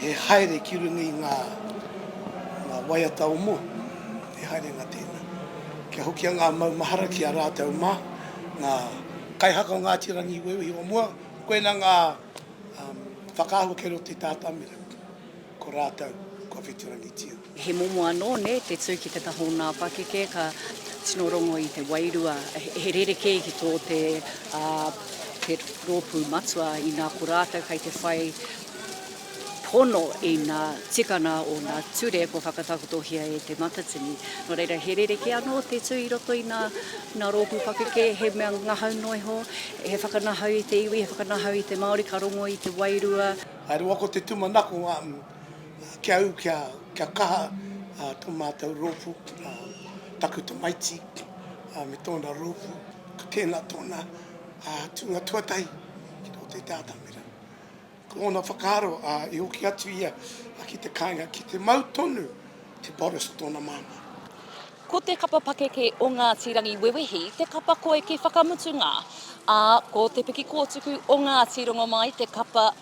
He haere ki runga i ngā waiata o mua, he haerenga tēnā. Kia hokia ngā maumahara ki a rātou mā, ngā kaihaka o Ngāti Rangi i uiuhi o mua, koinā ngā whakaahua kei roto i tā Tamirau, ko rātou kua whitirangitia. He momo anō nē te tū ki te taha o nā pakeke ka tino rongo i te wairua. He rerekē ki tō te te rōpū matua inā ko rātou kei te whai pono i nā tikana o nā ture kua whakatakotohia e Te Matatini. Nō reira, he rerekē anō te tū i roto i nā nā rōpū pakeke, he mea ngahau noa iho, he whakanahau i te iwi, he whakanahau i te Māori ka rongo i te wairua. Rua ko te tūmanako ki a au kia kaha tō mātou rōpū, taku tamaiti me tōna rōpū, ka kēnā tōna tūnga tuatahi ki roto i te atamira. Ko ōna whakaaro, i hoki atu ia ki te kāinga ki te mau tonu e Boris tōna māmā. Ko te kapa pakeke o Ngāti Rangiwewehi te kapa koeke whakamutunga, ā, ko te piki kōtuku o Ngāti Rongomai te kapa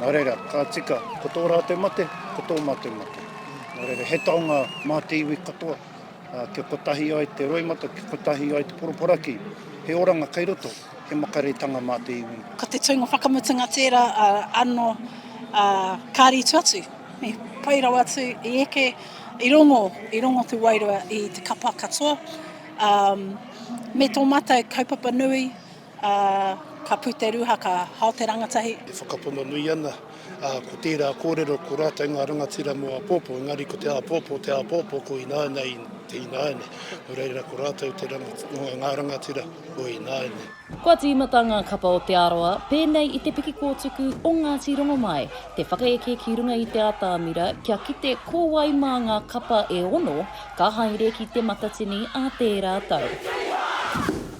Nā reira, ka tika, ko tō rātou mate, ko tō mātou mate. Nā reira, he taonga mā te iwi katoa, kia kotahi ai te roimata, kia kotahi ai te poroporaki, he oranga kei roto, he makaretanga mā te iwi. Ko te tūnga whakamutunga tērā anō ka rītu atu, pai rawa atu i eke, i rongo, i rongo te wairua i te kapa katoa, me tō mātou kaupapa nui, Ā, ka puteru ha ka hao te rangatahi. E whakapono nui ana, ā, ko tērā kōrero ko rātou ngā rangatira mō āpōpō, engari ko te āpōpō te āpōpō ko ināianei i te ināiane, nō reira ko rātou te ranga, ngā rangatira o ināianei. Kua tīmata ngā kapa o Te Arawa pēnei i te piki kōtuku o Ngāti Rongomai, te whakaeke ki runga i te atamira kia kite ko wai mā ngā kapa e ono ka haere ki Te Matatini ā tērā tau.